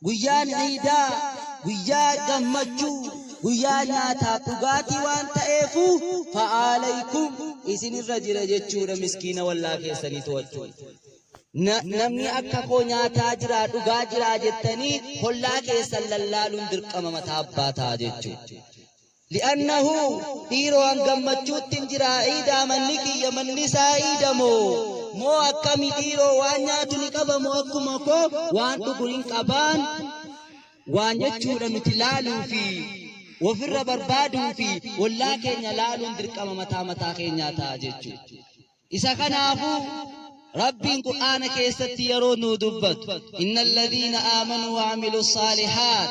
Guyyaan Iidaa guyyaa gammachuu, guyyaa nyaataaf dhugaatii waan ta'eefuu fa'aaleeykum isinirra jira jechuudha miskiina wallaa keessanii to'achuun. Namni akka koo nyaataa jiraa dhugaa jiraa jettanii hollaa keessan lallaaluun dirqama mataa abbaa ta'a jechuudha. Li'annahu, dhiiroo an gammachuuttin jira iidaa manni kiyya manni isaa iida moo moo akkami dhiiroo waan nyaatu ni qaba moo akkuma koo waan dhugu hin qabaan waan jechuudha nuti laaluu fi wofirra barbaaduu fi ollaa keenya laaluun dirqama mataa mataa keenyaa ta'a jechuudha. Isa kanaafuu Rabbiin Qur'aana keessatti yeroo nuu dubbatu innal ladhiina aamanuu wa amilu saalihaat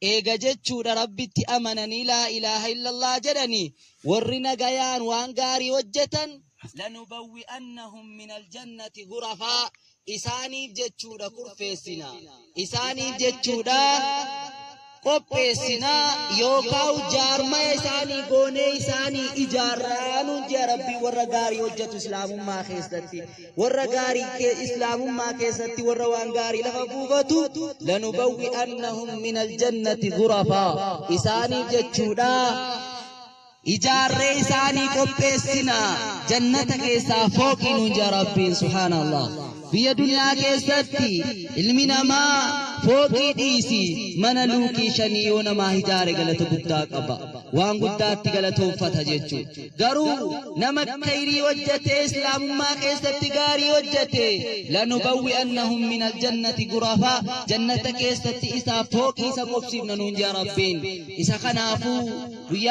Eega jechuudha Rabbitti amananii laa ilaaha illallah jedhanii worri nagayaan waan gaarii hojjatan lanubawwi'annahum minal jannati ghurafaa isaaniif jechuudha kurfeessina isaaniif jechuudha qopheessina yookaawu jaarmaya isaanii goonee isaanii ijaarraa nuun jea Rabbii warra gaarii hojjatu islaamummaa keessatti warra gaarii kee islaamummaa keessatti warra waan gaarii lafa buufatu lanubawwi'annahum min aljannati gurafaa isaanii jechuudha ijaarree isaanii qopheessina jannata keessaa fooqii nuun jaa rabbiin subhaanallah biyya duniyaa keessatti ilmi namaa fooqii dhiisi mana luukii shanii yoo namaa ijaare galata guddaa qaba waan guddaatti galatoonfata jechuudha Garuu nama khayrii hojjatee islaamummaa keessatti gaarii hojjate lanubawwi'annahum min aljannati gurafaa jannata keessatti isaaf fooqii isa qubsiifna nuun jaa rabbiin isa kanaafuu guyyaa